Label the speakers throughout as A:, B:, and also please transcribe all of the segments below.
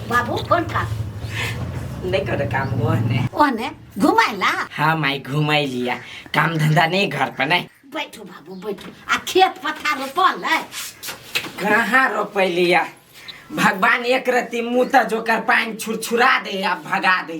A: बाबू कौन का नहीं
B: कर काम वो ने कौन है
A: घुमाइला हाँ माई
B: घुमाई लिया काम धंधा नहीं घर पर नहीं बैठो बाबू बैठो
A: आ खेत पथार रोपल है कहाँ
B: रोपे लिया भगवान एक रति मुँह त जोकर पानी छुरछुरा दे आ भगा दे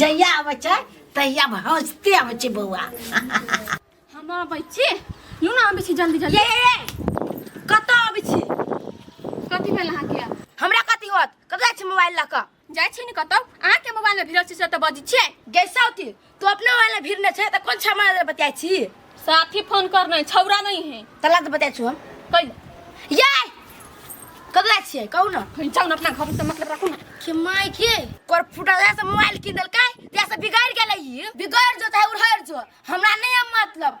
A: जहिया आबै छै तहिया हंसते आबै छै बौआ
C: हम आबै छी यू ना आबै छी जल्दी जल्दी ये ये ये
D: कतऽ आबै छी कथी
C: भेल अहाँके हमरा कथी होत
D: कतऽ जाइ छी मोबाइल लऽ कऽ जाइ छी ने कतौ
C: अहाँके मोबाइल मे भिड़ल छी से तऽ बजै छियै गैसौती तू
D: अपना वाला भीड़ न छे त कोन छे हमरा ले बतियाइ छी साथी फोन
C: करने छौरा नहीं है तला त बतियाइ छु हम
D: कहि
C: ये
D: कदला छिए कहू न कहि जाऊ न अपना घर से
C: मतलब राखू न के माय के
D: कोर फुटा जाय से मोबाइल किन देलकै ते से बिगाड़ गेलै ई बिगड़ जो चाहे उड़हर जो हमरा नहीं अब मतलब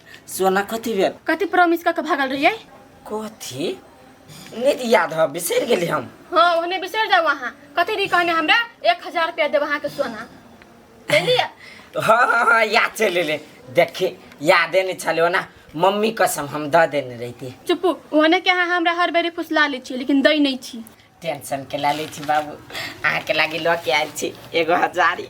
B: सोना कथी भेल कथी प्रॉमिस कऽ के भागल
C: रहियै कथी
B: नहि याद है बिसरि गेली हम हाँ ओहने बिसरि जाउ
C: अहाँ कथी रही कहने हमरा एक हजार रुपया देब अहाँके सोना देलियै हाँ हाँ हाँ
B: याद चलि एलै देखी यादे नहि छलै ओना मम्मी कसम हम दऽ देने रहिती चुप्पू ओहने के
C: अहाँ हमरा हर बेरी फुसला लै छियै लेकिन दै नहि छी टेंशन के ला ले
B: छी बाबू अहाँ के लागे लऽ के आयल छी एगो हजारी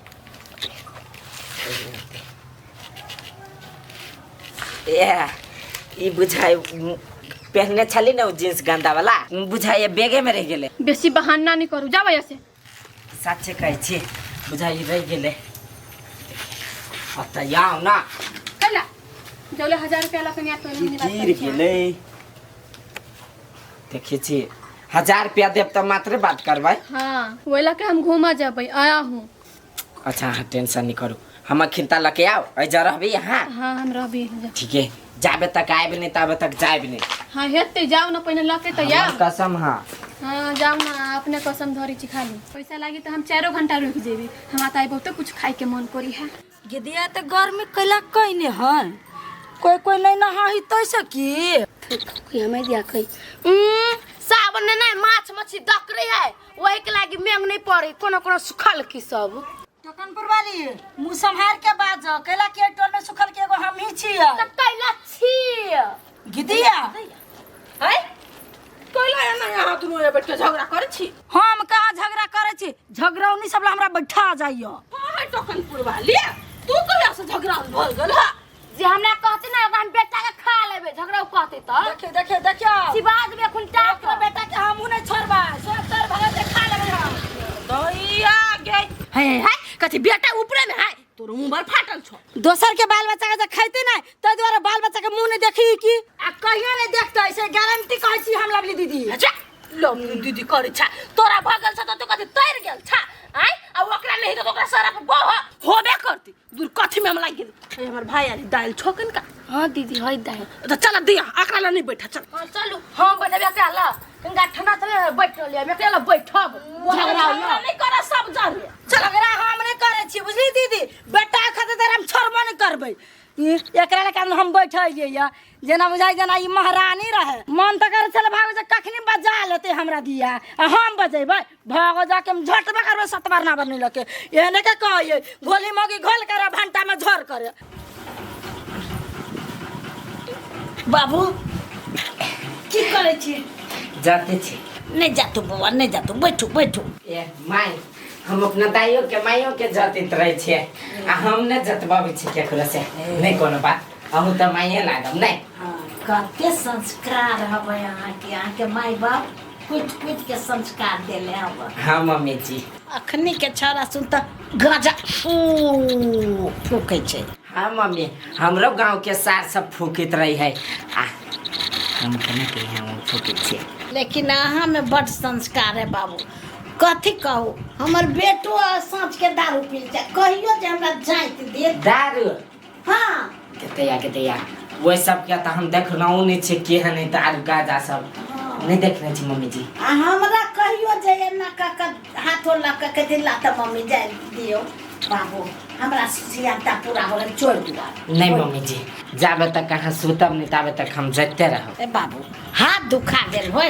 B: ए ई बुझाय पहनने छली ना उ जींस गंदा वाला उ बुझाय बेगे में रह गेले बेसी बहाना नहीं
C: करू जाओ यहाँ से साचे
B: कहै छी बुझाय ई रह गेले अब त यहाँ ना चला
C: जौले हजार रुपया ला कनिया तो ई गिर गेले
B: देखै छी हजार रुपया देब तऽ मात्रे बात करबै हाँ वही ला के
C: हम घूमा जाबे आया हूँ अच्छा अहाँ
B: टेंशन नहि करू हमर खिलता लऽ के आउ एहि जगह रहबै अहाँ हाँ हम रहबे
C: ठीके
B: जाबे तक आएब नहि ताबे तक जाएब नहि हाँ हेते जाओ
C: ना पहले लके तो हमर कसम हाँ हाँ
B: जाओ
C: ना अपने कसम धरी छी खाली पैसा लागी तो हम चारो घंटा रुक जेबी हमारा तो बहुत कुछ खाए के मन करी है गिदिया तऽ गर्मी
D: कैला कैने है कोई कोई नहीं नहा ही तैसे की कि हमें दिया कई
C: उम्म,
D: सावन में नहीं माछ मछली दक रही है वही के लागी मेंग नहीं पड़ी कोनो कोनो सुखल की सब टकनपुर वाली
A: मुंह संभाल के बाज कैला के टोल में सुखल के एगो हम ही छिए तब कैला
D: छी
A: गिदिया
D: है
C: कोइला एना यहाँ दुनू ये बैठ के झगड़ा करे छी हम कहाँ झगड़ा
A: करे छी झगड़ौनी सब ला हमरा बैठा जाइयो हाँ है टोकनपुर
C: वाली तू कहिया से झगड़ा भर गेल है जे हमरा कहते
D: ना ओकरा हम बेटा के खा लेबे झगड़ा उ कहते त देखे देखे देखियो शिवाज
A: में एखन
D: टाक अपना बेटा के हमहू
A: नहीं छोड़बा सब तर भगत के खा लेबे
C: हम दैया गे है है
D: कथी बेटा ऊपरे में है तोर मुंह बड़ फाटल छो
C: दोसर के बाल बच्चा के
A: जे खैते ना ताहि दुआरे बाल बच्चा के मुंह नहीं देखी की आ कहियो नहीं देखते ऐसे गारंटी कहै छी हम लवली दीदी अच्छा लवली
C: दीदी करै छा तोरा भगल छ त तो कथि तैर गेल छा आय आ ओकरा नहीं त ओकरा सारा के बह होबे करती दूर कथि में हम लाग गेल ए, हमर भाई आली दाल छोकन का हां दीदी हई दाई
D: त चल दिया
C: अकरा ला नहीं बैठा चल हां चलू हां
D: बनबे एकरा ला कनका ठंडा चले बैठ रहलिए हम एकरा ला बैठब झगड़ा नहीं कर सब
C: जान झगड़ा हम नहि
A: करै छी बुझली दीदी बेटा खातिर तऽ हम छोड़बो नहि करबै ई एकरा लए कारण हम बैठलिए या जेना बुझाइ जेना ई महारानी रहे मन तऽ करै छल भाग जे कखनी बजा लेते हमरा दिया आ हम बजेबै भाग जाके हम झटबे करबै सतबार ना बनी लके एहने के कहिए घोली मगी घोल करे भंटा में झोर करे बाबू की करै छी जाते छी
B: नहीं जा तू बौआ
A: नहीं जा तू बैठू बैठू ए माय
B: हम अपना दाइयो के माइयो के जतित रहे छिए आ हम ने जतबाबै छी केकरो से नहीं कोनो बात अहू त माइये लागम नहीं हाँ, कते
A: संस्कार हवे
B: अहाँ
A: के अहाँ के माय
B: बाप
A: कुछ कुछ के संस्कार देले हवे हाँ मम्मी जी
B: अखनी के छौड़ा
A: सुन त गजा फू फूकै छै हाँ मम्मी
B: हमरो गाँव के सार सब फूकित रही है आ हम केना के हम फूकित छी लेकिन अहाँ
A: में बड संस्कार है बाबू कथी कहू हमर बेटो साँझ के दारू पी जाए कहियो जे हमरा जाइत देत दारू
B: हाँ
A: कितने या कितने
B: या वो सब क्या था हम देख रहा हूँ नहीं छे के है नहीं तो आज का जा सब नहीं देख रहे छे मम्मी जी आ हमरा कहियो
A: जे एना का का हाथो लग के कथी ला त मम्मी जाय दियो बाबू हमरा सियाता पूरा हो गेल चोर दुआ नहीं मम्मी जी
B: जाबे तक कहाँ सुतब नहीं ताबे तक हम जगते रहो ए बाबू हाथ
A: दुखा गेल होय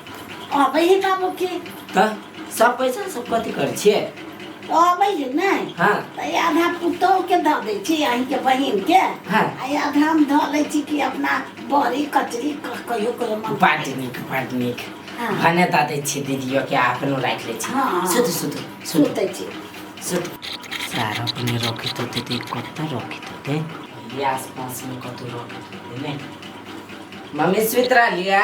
B: अबै है
A: का बुकी तऽ
B: सब पैसा सब कथी करै छियै अबै है
A: नहि हाँ तऽ ई आधा पुतोहके दऽ दै छी अहींके बहिनके हाँ। आ ई आधा
B: हम धऽ
A: लै छी कि अपना बड़ी कचरी क- कहियो कहियो मन बड नीक बड नीक
B: हाँ। भने दऽ
A: दै छियै
B: दीदियो के अपनो राखि लै छी हाँ। सुतू सुतू
A: सुतू
B: सुतै छी
A: सुतू
B: सारा अपने रखैत होतै तऽ कतऽ रखैत होतै ई आसपासमे कतहु रखैत होतै नहि मम्मी सुति रहलियै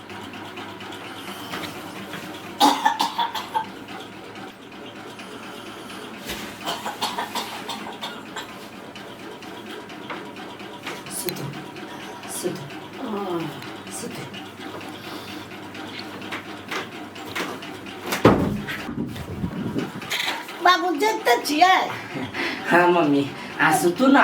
A: बाबू देखते छियै हाँ
B: मम्मी आ सुतू ना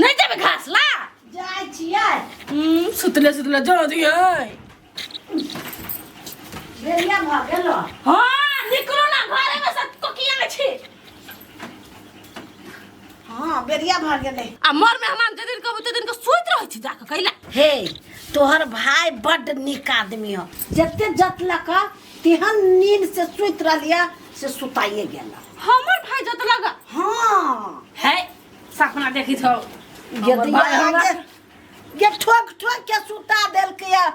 A: नहीं जब घास ला जाय छियै हम्म, सुतले सुतले जा दिए बेरिया भऽ गेल हाँ निकलो ना घरे में सब को किया में छी हँ बेरिया भऽ गेलै आ मर में हमान जे
C: दिन कहबो ते दिन के सुत रह छी जाके कैला हे
A: तोहर भाय बड नीक आदमी हो जते जतलक तेहन नींद से सुति रहलिया से सुताइए गेल हमर भाई जत
C: लगा हाँ
A: है
C: सपना देखी थो ये हमर दिया भाय हमरा- आगे
A: ये ठोक ठोक के सुता देल के या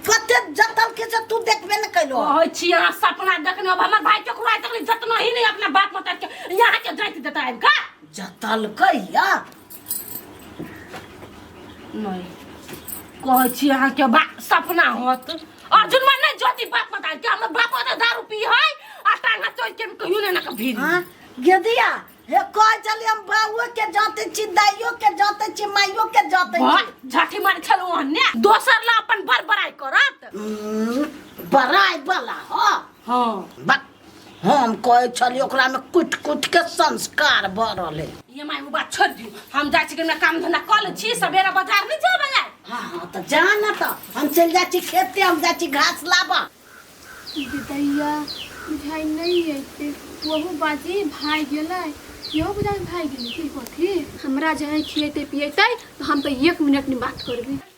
A: कते जतल के से तू देखबे न कैलो कहै छी अहाँ सपना
C: देखने अब हमर भाई चोखुआ तक जतना ही नहीं अपना बाप मत के यहाँ के जाइत देता आबि का जतल के
A: या
C: नहि कहै छी अहाँके बा सपना होत अर्जुन मन नहि जोति बाप पता कि हमर बाप ओते दारू पी है आ टांगा चोइ के कहियो ने ना के भीड़ हाँ गेदिया
A: हे कह चली हम बाबुओ के जाते छी दाइयो के जाते छी माइयो के जाते वाह, छी झाटी मार छल ओहने
C: दोसर ला अपन बड़बड़ाई करत हम्म,
A: बड़ाई वाला
C: हो
A: हाँ
C: बक
A: हम कहै छलियै ओकरामे कुटि कुटि के संस्कार भऽ रहलै ये माय वो बात छोड़ दियो
C: हम जाए छिके ना काम धंधा कर ले छी सवेरा बाजार नहीं जाए वाला हाँ हाँ तो जा
A: ना तो हम चल जा छी खेते हम जा छी घास लाबा
E: बिदैया बुझाइ नहीं अइते वहू बाजी भाई गेलै इहो बुझाइ भाई गेलै की कथी हमरा जे है खिएतै पिएतै तऽ हम तऽ एक मिनट नहि बात करबै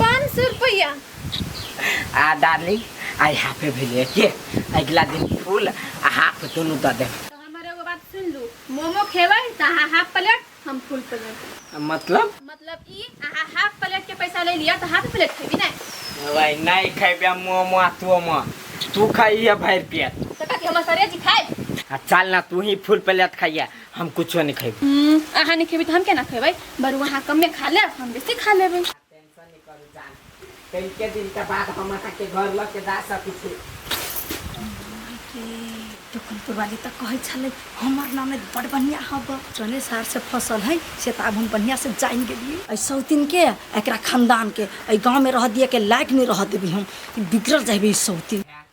E: पाँच सौ रुपया
B: आ डार्लिंग आई हाफे भेलिए के अगला दिन फूल आ हाफ दुनू दऽ देब तो हमारे एगो बात सुन
E: लू मोमो खेबै तो अहाँ हाफ प्लेट हम फुल प्लेट मतलब मतलब ई अहाँ हाफ प्लेट
B: के पैसा ले लिया तो हाफ प्लेट खेबी ना भाई नहीं खेबे मोमो आ तू मो तू खाइए भर पेट तो कथी हमर सरे जी
E: खाए आ चल ना तू ही
B: फूल प्लेट खाइए हम कुछो नहीं खेब हम्म, अहाँ नहीं खेबी तो
E: हम केना खेबै बरू अहाँ कमे खा लेब हम बेसी खा लेबै टेंशन नहीं
B: करू जान कई के दिन के बाद हम अहाँ के घर ल के जा सकी छी
A: दुखनपुर वाली तो कहे छले हमर नाम में बड़ बढ़िया हब जने सार से फसल है से तो अब हम बढ़िया से जान गेलिए ऐ सौतिन के एकरा खानदान के ऐ गांव में रह दिए के लायक नहीं रह देबी हम बिगड़ जाबे ई सौतिन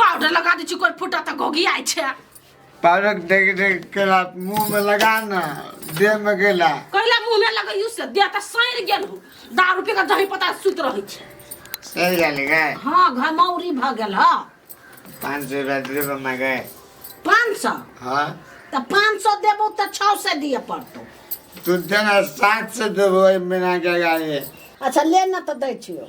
C: पाउडर लगा दै छी कोइ फूटा तऽ घोगी आइ छै पाउडर
F: देख देख के रात मुंह में लगा ना देह में गेला कहला मुंह में लगैयू
C: से देह तऽ सैर गेल हो दारू पी के दही पता सुत रहै छै सही जाले
F: गए हाँ घमौरी
A: भऽ गेल ह पाँच सौ
F: रुपया दे दो मैं गए पाँच सौ
A: हाँ
F: तऽ पाँच सौ
A: देबो तऽ छओ सौ दिए पड़तौ तू देना
F: सात सौ देबो महीना के गाड़ी अच्छा ले न
A: तऽ दै छियौ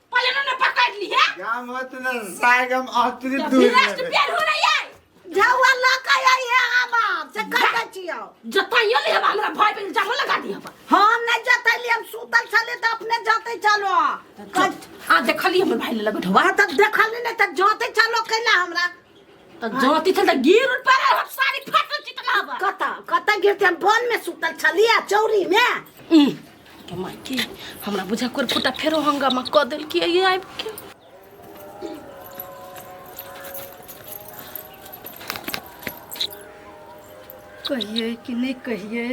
C: पहले ना पकड़ ली है क्या मत ना
F: साग हम आतरी दूर विनाश के पेड़ हो रही
C: है जावा ला के
A: आई है हम आप से कर के छियो जताइयो ले हम
C: हमरा भाई पे इल्जाम लगा दिया बा हम नहीं जते
A: लिए हम सुतल छले त अपने जते चलो कट आ
C: देखली हमर भाई ले लगो ढवा वहां तक देखल नहीं त
A: जते चलो कैला हमरा तो जोती
C: थे तो गिर उड़ पर हम सारी फसल चितना बा कता कता गिरते हम
A: बन में सुतल छलिया चौरी में ई, के माई
C: के हमरा बुझा कर फुटा फेरो हंगामा क देल कि ये आइब के
A: कहिए कि नहीं कहिए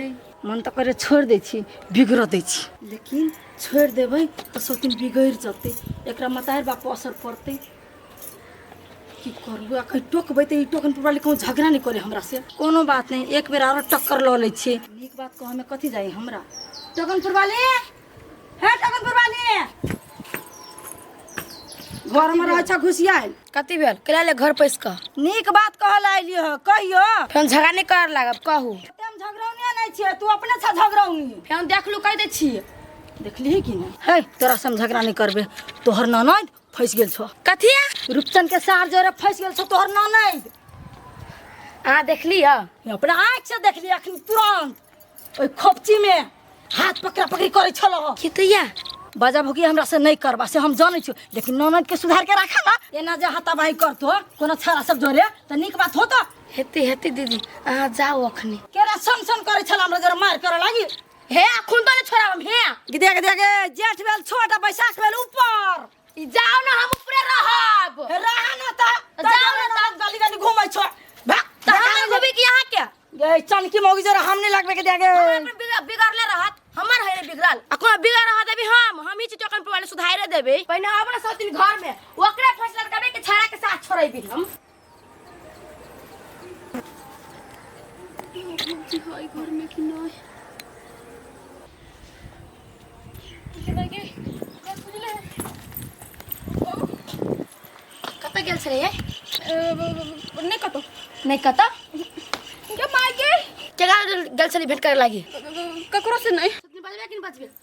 A: मन तो करे छोड़ दे छी बिगड़ दे छी लेकिन छोड़ देबै तो सौतिन बिगड़ जते एकरा मतार बाप असर पड़ते की करबू आ कहीं टोकबै तऽ ई टोकन पर वाली कहूँ झगड़ा नहीं करे हमरा से कोनो बात नहीं एक बेर और टक्कर लऽ लै छी नीक बात कह हमें कथी जाई हमरा टोकन पर वाली हे टोकन पर वाली घर में रहै छ घुसियाल कति भेल कला ले
D: घर पैस कह नीक बात कहल
A: आइलियो ह कहियो फेन झगड़ा नहीं कर
D: लागब कहू हम झगड़ौनिया
A: नहीं छियै तू अपने छ झगड़ौनी फेन देखलू कह दे
D: छी देखली कि
A: नहीं है तोरा से हम झगड़ा नहीं करबे तोहर ननद फंस गेल छो कथिया रूपचंद
D: के सार
A: जोरे फंस गेल छो तोहर ना नहीं अहाँ
D: देखली ह अपना आँख से
A: देखली अखन तुरंत ओहि खोपची में हाथ पकड़ा पकड़ी करे छलो हो की तैया
D: बाजा भुकी
A: हमरा से नहीं करबा से हम जाने छो लेकिन ननद के सुधार के रखा ना एना जे हाथाबाही करतो कोनो छाड़ा सब जोरे त निक बात होतो हेती हेती दीदी
D: अहाँ जाओ अखनी केरा सन सन करे
A: छल हमरा जोरे मार करे लागी हे खून तो ने
D: छोड़ा हम हे कि देख देख
A: जेठ बेल छोटा बैसाख बेल ऊपर ई जाओ ना हम
D: ऊपरे रहब रहा ना ता
A: जाओ ना ता गली
D: गली घूमै छो
A: भाग ता हम घूमे कि
D: यहां के गए चनकी मौगी
A: जरा हम नहीं लगबे के देगे बिगड़ले रहत
D: हमर है बिगड़ल आ कोना बिगड़ रहत अभी हम हम ही चिटकन पर वाले सुधारे देबे पहिने अपना सब दिन घर में ओकरे फैसला करबे के छाड़ा के साथ छोड़बे हम कतऽ गेल छलै
E: नहि कतहु
D: नहि कतऽ
E: मायके केकरा गेल
D: छली भेट करे लागी ककरो से नहि बजबे कि
E: नहि बजबे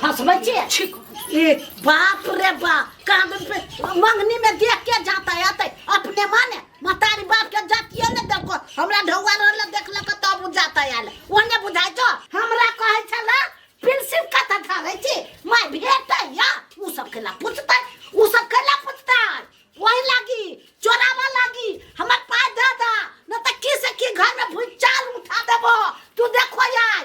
C: फंसबै छियै ठीक
A: ए
C: बाप
A: रे बाप कांदन पे मंगनी में देख के जाता है आते अपने माने मतारी बाप के जातिए ने देखो हमरा ढौआ रहले देखलक तब उ जाता है आले ओने बुझाइ तो हमरा कहै छला प्रिंसिप कथा धारे छी मैं भेटै या उ सब केला पूछतै उ सब केला पूछतै वही लागी चोरावा लागी हमर पाय दे दा न त की से की घर में भूचाल उठा देबो तू देखो यार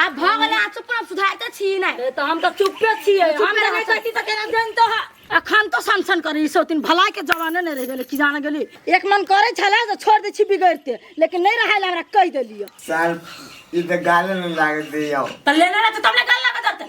A: आ भऽ गेलै आ
D: चुप रहब सुधारते छी नै ए, तऽ हम तऽ चुपे छियै चुपे हम तऽ
A: रहै नहि छै। कहती तऽ केना जनतो है अखन तो सनसन करी सो तीन भलाई के जमाने नै रह गेलै कि जान गेली एक मन करै छलै जे छोड़ दै छी बिगड़ते लेकिन नै रहै ला हमरा कहि देलियै साल
F: ई तऽ गाले में लागत दैया तऽ लेने रहते तब ने
C: गल लगा देते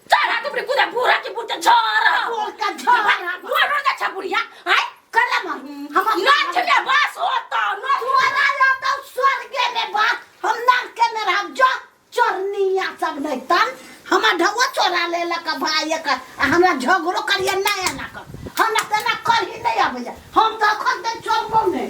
C: चरा तू रे पूरा पूरा की पूरा छोरा बोल का
A: छोरा बोल रो जा
C: छपुरिया हाय कर ला मार
A: हम ना छले बस
C: हो तो ना छोरा ला तो
A: स्वर्ग में बात हम ना के में हम जो चोरनिया सब नहीं तन हम ढवा चोरा ले ला का भाई का हमरा झगड़ो करिए ना ना कर हम ना तना कर ही नहीं आबे हम तो खन दे चोर बोल नहीं